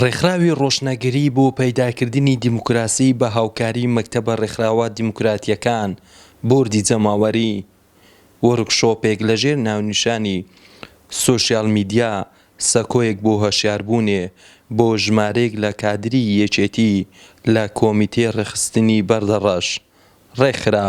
ڕێکخراوی ڕۆشنگەری بۆ پەیداکردنی دیموکراسی بە هاوکاری مەکتەبە ڕێکخراوە دیموکراتییەکان بۆردی جەماوەری، وۆرکشۆپێک لەژێر ناونیشانی سۆشیال میدیا سەکۆیەک بۆ هۆشیاربوونێ بۆ ژمارەیەک لە کادری یەکێتی لە کۆمیتەی ڕێکخستنی بەردەڕەش ڕێکخرا.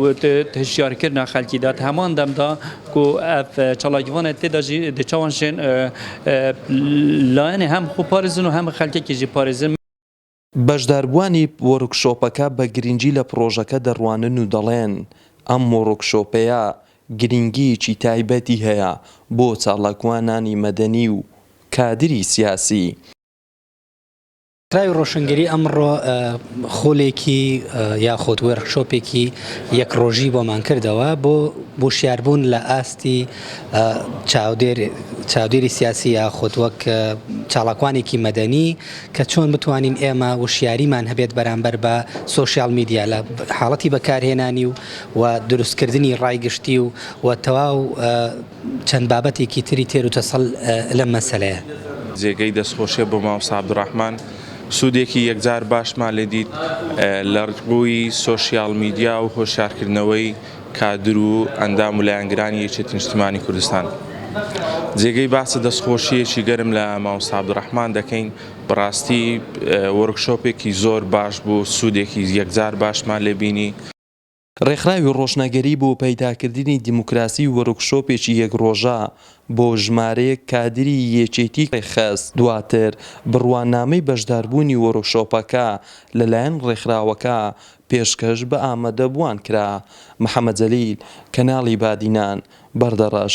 و هشیارکرنا خەلکی دات هەمان دەمدا کو ئەف چالاکیڤانە تێدا ژی دی چاوان شێن لایەنێ هەم خو پارێزن و هەم خەلکێکی ژی پارێزن. بەشداربووانی وۆرکشۆپەکە بە گرنگی لە پڕۆژەکە دەڕوانن و دەڵێن، ئەم وۆرکشۆپەیە گرنگییەکی تایبەتی هەیە بۆ چالاکوانانی مەدەنی و کادری سیاسی، کراوی ڕۆشنگەری ئەمڕۆ خولێکی یاخود وێرخشۆپێکی یەک ڕۆژی بۆمان کردەوە بۆ بۆشیاربوون لە ئاستی چاودێری سیاسی یاخود وەک چاڵاکوانێکی مەدەنی کە چۆن بتوانین ئێمە وشیاریمان هەبێت بەرامبەر بە سوسیال میدیا لە حاڵەتی بەکارهێنانی و و دروستکردنی ڕای گشتی و و تەواو چەند بابەتێکی تری تێر و تەسەل لەم مەسەلەیە. جێگەی دەستخۆشیە بۆ مامۆستا عبدالرحمن سودێکی یەکجار باشمان لێ دیت لە ڕووی سۆشیال میدیا و هۆشیارکردنەوەی کادر و ئەندام و لایەنگرانی یەکێتی نیشتیمانی کوردستان جێگەی باسە دەستخۆشیەکی گەرم لە مامۆستا عبدالرحمن دەکەین بەڕاستی وەرکشۆپێکی زۆر باش بوو سودێکی یەکجار باشمان لێ بینی ڕێکخراوی ڕۆشنەگەری بۆ پەیداکردنی دیموکراسی وۆرکشۆپێکی یەک ڕۆژە بۆ ژمارەیەک کادری یەکێتی ڕێکخست، دواتر بڕوانامەی بەشداربوونی وۆرکشۆپەکە لەلایەن ڕێکخراوەکە پێشکەش بە ئامادەبووان کرا محەمەد جەلیل، کەناڵی بادینان، بەردەڕەش.